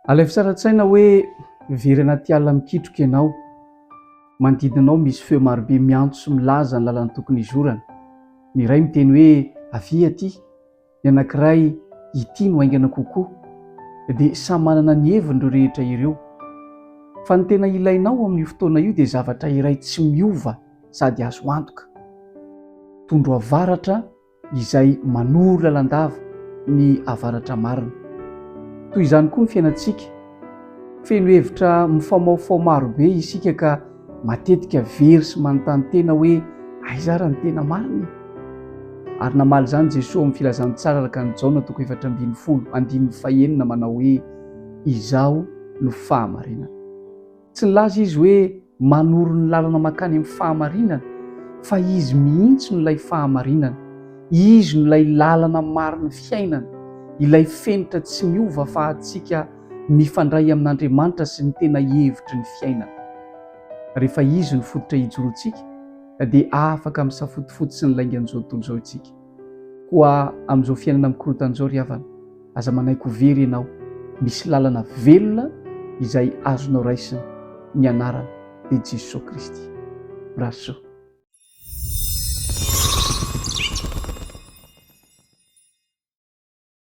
Alefa tsara an-tsaina hoe very anaty alina mikitroka ianao. Manodidina anao misy feo marobe miantso sy milaza ny lalana tokony hizorana. Ny iray miteny hoe avia aty. Ny anankiray, ity no haingana kokoa, dia samy manana ny heviny ireo rehetra ireo. Fa ny tena ilainao ao amin'io fotoana io dia zavatra iray tsy miova sady azo antoka. Tondro avaratra izay manoro lalandava ny avaratra marina. Toy izany koa ny fiainantsika. Feno hevitra mifaomaofao maro be isika ka matetika very sy manontany tena hoe aiza ary ny tena marina e? Ary namaly izany Jesoa amin'ny Filazantsara araka an'i Jaona toko efatra ambin'ny folo andininy fahenina manao hoe Izaho no fahamarinana. Tsy nilaza izy hoe manoro ny lalana mankany amin'ny fahamarinana, fa izy mihitsy no ilay fahamarinana. Izy no ilay lalana marin'ny fiainana, ilay fenitra tsy miova afahantsika mifandray amin'Andriamanitra sy ny tena hevitry ny fiainana. Rehefa izy no fototra ijoroantsika, dia afaka misafotofoto sy ny laingan'izao tontolo izao isika. Koa amin'izao fiainana mikorontana izao ry havana, aza manaiky ho very ianao. Misy lalana velona izay azonao raisina, ny anarana dia Jesoa Kristy. Mirary soa.